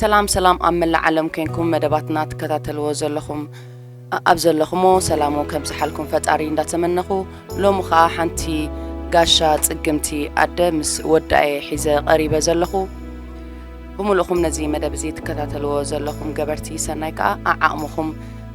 ሰላም ሰላም ኣብ መላእ ዓለም ኮይንኩም መደባትና ትከታተልዎ ዘለኹም ኣብ ዘለኹሞ ሰላም ከምጽሓልኩም ፈጣሪ እንዳተመነኹ ሎሚ ኸኣ ሓንቲ ጋሻ ጽግምቲ ኣደ ምስ ወዳኤ ሒዘ ቐሪበ ዘለኹ ብምሉእኹም ነዚ መደብ እዚ ትከታተልዎ ዘለኹም ገበርቲ ሰናይ ከኣ ኣዓቕምኹም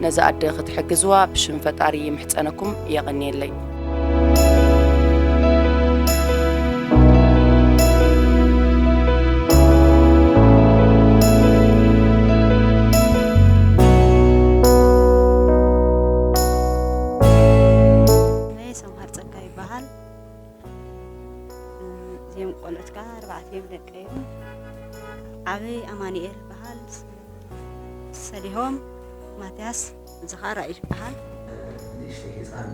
ነዛ ኣደ ክትሕግዝዋ ብሽም ፈጣሪ ይምሕጸነኩም የቐንየለይ። ናይ ሰምሃር ጸጋ ይበሃል እዚኦም ቆልዑት ከዓ ኣርባዕቲኦም ደቀ እዮም ዓበይ ኣማኒኤል ይበሃል ሰሊሆም ማትያስ እዚ ከኣ ራእይ ይበሃል። ንእሽተይ ህጻን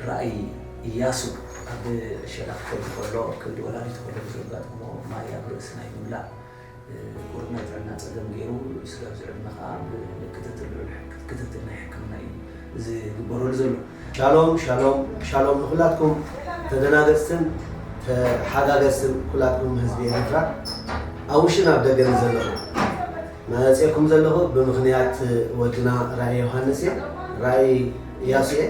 ራእይ ኢያሱ ኣብ ሸነኽ ክኸይድ ከሎ ከብዲ ወላዲቱ ከሎ ብዘጋጠሞ ማይ ኣብ ርእሲ ናይ ምምላእ ቁሩብ ናይ ጥዕና ጸገም ገይሩ ስጋብ ዝዕድመ ከኣ ብክትትል ልዑል ክትትል ናይ ሕክምና እዩ ዝግበረሉ ዘሎ። ሻሎም ሻሎም ሻሎም ንኩላትኩም ተደናገጽትን ተሓጋገዝትን ኩላትኩም ህዝቢ ኤሪትራ ኣብ ውሽን ኣብ ደገን ዘለኹም መጺኤኩም ዘለኹ ብምኽንያት ወድና ራኢ ዮሃንስ እየ ራኢ እያሱ እየ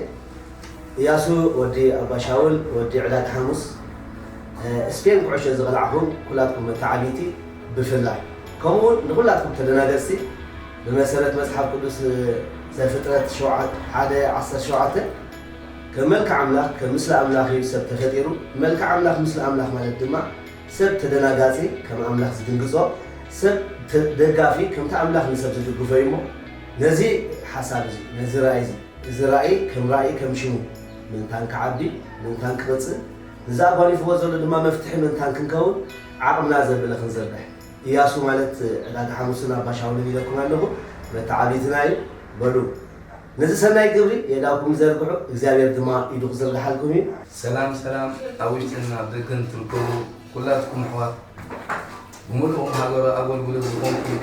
እያሱ ወዲ ኣባ ሻውል ወዲ ዕዳት ሓሙስ ስፔን ኩዕሾ ዝቐላዕኹም ኩላትኩም መታዓቢቲ ብፍላይ ከምኡ ውን ንኩላትኩም ተደናገጽቲ ብመሰረት መጽሓፍ ቅዱስ ዘፍጥረት ሸውዓተ ሓደ ዓሰርተ ሸውዓተ ከም መልክዕ ኣምላኽ ከም ምስሊ ኣምላኽ እዩ ሰብ ተፈጢሩ መልክዕ ኣምላኽ ምስሊ ኣምላኽ ማለት ድማ ሰብ ተደናጋጺ ከም ኣምላኽ ዝድንግጾ ሰብ ደጋፊ ከምቲ ኣምላኽ ንሰብ ዝድግፎ እዩ እሞ ነዚ ሓሳብ እዚ ነዚ ራእይ እዚ እዚ ራእይ ከም ራእይ ከም ሽሙ ምእንታን ክዓቢ ምእንታን ክቕጽል ንዚ ኣጓኒፍዎ ዘሎ ድማ መፍትሒ ምእንታን ክንከውን ዓቕምና ዘብለ ክንዝርግሕ ኢያሱ ማለት ዕዳጋ ሓሙስን ኣባ ሻውልን ኢለኩም ኣለኹ፣ መተዓብይትና እዩ። በሉ ነዚ ሰናይ ግብሪ የእዳውኩም ዘርግሑ፣ እግዚኣብሄር ድማ ኢዱ ክዝርግሓልኩም እዩ። ሰላም ሰላም ኣብ ውሽጥን ኣብ ደገን ትርከቡ ኩላትኩም ኣሕዋት ብምሉእኩም ሃገራዊ ኣጎልጉሎት ዝኮንኩም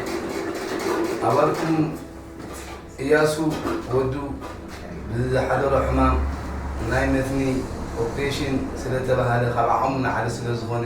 ኣባልኩም እያሱ ወዱ ብዝሓደሮ ሕማም ናይ መትኒ ኦፕሬሽን ስለተባሃለ ካብ ዓቅሙ ንዓሊ ስለዝኮነ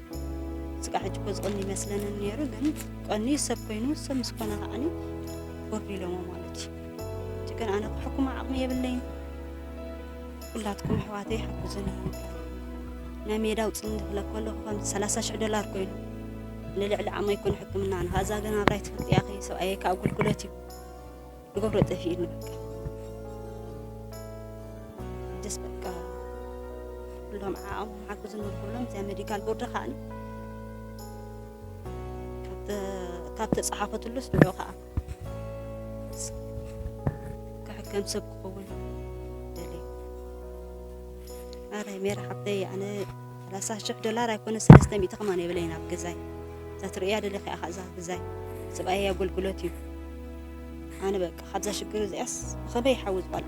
ስጋዕ ሕጂ እኮ ዝቐኒ ይመስለንን ነይሩ ግን ቀንዩ ሰብ ኮይኑ ሰብ ምስ ኮነ ከዓኒ ወርዱ ኢሎሞ ማለት እዩ እቲ ግን ኣነ ክሕኩማ ዓቕሚ የብለይን ኩላትኩም ኣሕዋተይ ሓግዙኒ ናይ ሜዳ ውፅኒ ክብለ ከለኹ ከም ሰላሳ ሽሕ ዶላር ኮይኑ ንልዕሊ ዓቕመይ ኮነ ሕክምና ንካዛ ግን ኣብራይ ትፈልጥያ ኸ ሰብኣየ ካብ ኣገልግሎት እዩ ንገብሮ ጠፊኡኒ በቃ ደስ በቃ ኩሎም ዓኦም ሓግዙ ንክብሎም እዚኣ ሜዲካል ቦርድ ከዓ ካብ ተፀሓፈትሉስ ንዑ ከዓ ክሕከም ሰብ ክኸውን ደልየ ኣረ ሜራ ሓብተይ ኣነ ሰላሳ ሽሕ ዶላር ኣይኮነ ሰለስተ ሚእቲ ከማን የብለይን ኣብ ገዛይ እዛ ትርእያ ደለኺ ኢኻ እዛ ገዛይ ሰብኣይ ኣገልግሎት እዩ ኣነ በቃ ካብዛ ሽግር እዚኣስ ብኸመይ ይሓውዝ ጓል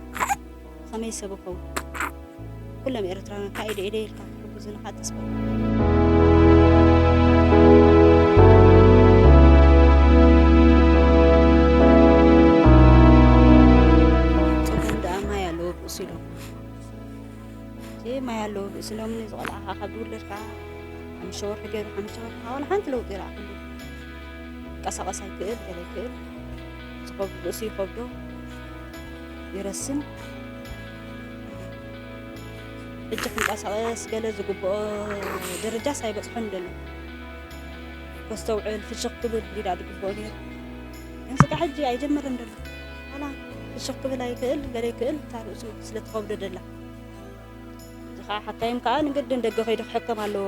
ብኸመይ ሰብ ይኸውን ኩሎም ኤርትራውያን ካብ ኢደ ኢደ ኢልካ ክሕግዙ ንኻ ተስፋ ጸገም ደኣ ማይ ኣለዎ ብእሲ ኢሎም እዚ ማይ ኣለዎ ብእሲ ኢሎም እዚ ቆልዓ ካብ ዝውለድ ከዓ ሓሙሽተ ወርሒ ገይሩ ሓሙሽተ ወርሒ ከዓ ዋላ ሓንቲ ለውጢ ይረኣኹሉ ይንቀሳቐስ ኣይክእል ገለ ይክእል ዝኸብዱ ርእሱ ይኸብዶ ይረስን ሕጂ ክንቀሳቐስ ገለ ዝግብኦ ደረጃስ ኣይበፅሖን ደሎ ከስተውዕል ፍሽኽ ክብል ሊዳ ዝግብኦ ነይሩ ግን ስጋ ሕጂ ኣይጀመረን ደሎ ዋላ ፍሽኽ ክብል ኣይክእል ገለ ይክእል እታ ርእሱ ስለትኸብዶ ደላ እዚ ከዓ ሓታዮም ከዓ ንግድን ደገ ከይዱ ክሕከም ኣለዎ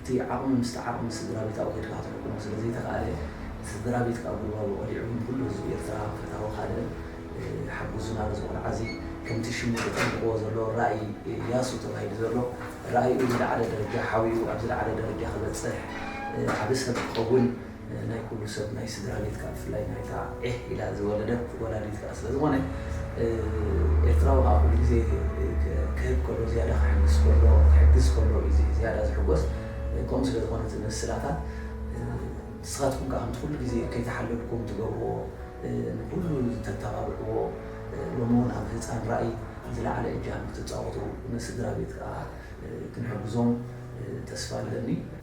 እቲ ዓቕሚ ምስቲ ዓቕሚ ስድራቤታዊ ከይድካ ክትሕክሞ ስለ ዘይተኻእለ፣ ስድራቤትካ ኣብ ጉልባቡ ቀሊዑ ግን ኩሉ ህዝቢ ኤርትራ ፈታዊ ካልእ ሓጉዙና ነዚ ቆልዓዚ ከምቲ ሽሙ ተጠንቅቕዎ ዘሎ ራኢ ያሱ ተባሂሉ ዘሎ ራኢኡ ዝለዓለ ደረጃ ሓቢኡ ኣብ ዝለዓለ ደረጃ ክበጽሕ ዓቢ ሰብ ክኸውን ናይ ኩሉ ሰብ ናይ ስድራ ቤት ከኣ ብፍላይ ናይታ ዒሕ ኢላ ዝወለደት ወላዲት ከኣ ስለ ዝኾነ ኤርትራዊ ከኣ ኩሉ ግዜ ክህብ ከሎ ዝያዳ ክሕግስ ከሎ ክሕግዝ ከሎ እዩ ዝያዳ ዝሕጎስ ከምኡ ስለ ዝኾነ እቲ ምስላታት ንስኻትኩም ከኣ ከምቲ ኩሉ ግዜ ከይተሓለልኩም ትገብርዎ ንኩሉ ተተባብዕዎ ሎሚ እውን ኣብ ህጻን ራኢ ዝለዓለ እጃም ክትጻወቱ ንስድራ ቤት ከኣ ክንሕግዞም ተስፋ ኣለኒ።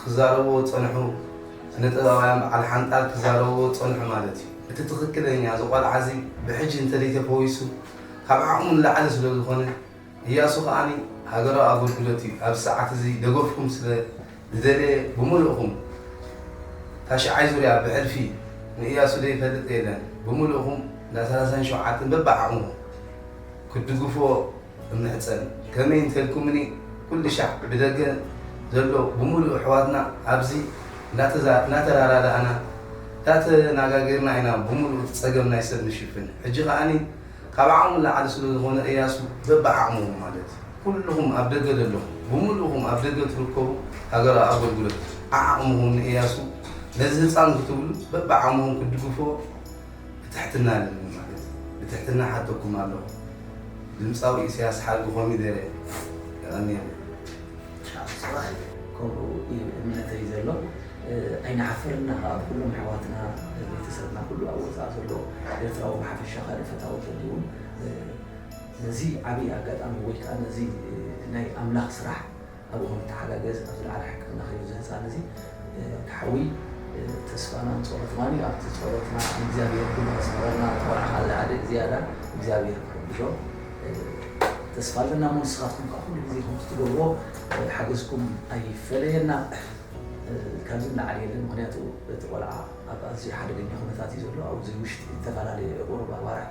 ክዛረብዎ ዝጸንሑ ስነ ጥበባውያን በዓል ሓንጣል ክዛረብዎ ዝጸንሑ ማለት እዩ። እቲ ትኽክለኛ እዚ ቆልዓ እዚ ብሕጂ እንተደይ ተፈዊሱ ካብ ዓቕሙ ንላዕሊ ስለ ዝኾነ እያሱ ከኣ ሃገራዊ ኣገልግሎት እዩ ኣብዚ ሰዓት እዚ ደገፍኩም ስለ ዝደለየ ብምሉእኹም ታሽዓይ ዙርያ ብሕልፊ ንእያሱ ዘይፈልጥ የለን ብምሉእኹም እንዳ ሰላሳን ሸውዓተን በብዓቕምኹም ክትድግፍዎ እምሕጸን ከመይ እንተልኩምኒ ኩልሻዕ ብደገ ዘሎ ብምሉኡ ኣሕዋትና ኣብዚ እናተራዳዳእና እንዳተናጋገርና ኢና ብምሉኡ እቲ ጸገም ናይ ሰብ ንሽፍን ሕጂ ከኣ ካብ ዓቕሙ ንላዕሊ ስለ ዝኾነ እያሱ በብዓቕምኹም ማለት ኩሉኹም ኣብ ደገ ዘለኹም ብምሉእኹም ኣብ ደገ ትርከቡ ሃገራዊ ኣገልግሎት ዓዓቕምኹም ንእያሱ ነዚ ህጻን ክትብሉ በብዓቕምኹም ክትድግፍዎ ብትሕትና ኣለኒ ማለት ብትሕትና እሓተኩም ኣለኩ ድምጻዊ ኢሰያስ ሓልቢ ኮሚደረ የቀንየልና ኣስዋኣይ ከምኡ እዩ እምነተይ ዘሎ ኣይንሓፍርን እና ከኣ ብኩሎም ኣሕዋትና ቤተሰብና ኩሉ ኣብ ወጻኢ ዘሎ ኤርትራዊ ብሓፈሻ ካልእ ፈታዊ ተልዩ ውን ነዚ ዓቢ ኣጋጣሚ ወይ ከኣ ነዚ ናይ ኣምላክ ስራሕ ኣባኹም ይተሓጋገዝ ኣብ ዝለዓለ ሕክምና ከይዱ እዚ ህጻን እዚ ወዲ ሓዊ ተስፋናን ጾሎትናን እዩ ኣብቲ ጾሎትና ንእግዚኣብሔር ኩሉ ከስምረልና እቲ ቆልዓ ከኣ ዝያደ ዝያዳ እግዚኣብሔር ክሕግዞ ተስፋ ኣለና እሞ ንስኻትኩም ከኣ ኩሉ ግዜ ከምቲ ትገብርዎ ሓገዝኩም ኣይፈለየና ካብዚ ንላዕሊ የለን ምክንያቱ እቲ ቆልዓ ኣብ ኣዝዩ ሓደገኛ ኩነታት እዩ ዘሎ ኣብዚ ውሽጢ ዝተፈላለየ ቁሩብ ኣዋርሕ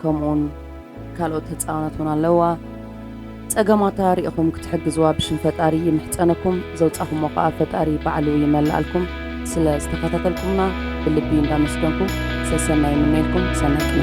ከምኡውን ካልኦት ህፃውነት ውን ኣለዋ ፀገማታ ሪኢኹም ክትሕግዝዋ ብሽም ፈጣሪ ይምሕፀነኩም ዘውፃኹሞ ከዓ ፈጣሪ ባዕሉ ይመላኣልኩም ስለ ዝተኸታተልኩምና ብልቢ እንዳመስገንኩ ሰሰናይ ምነልኩም ሰናይ ቅነ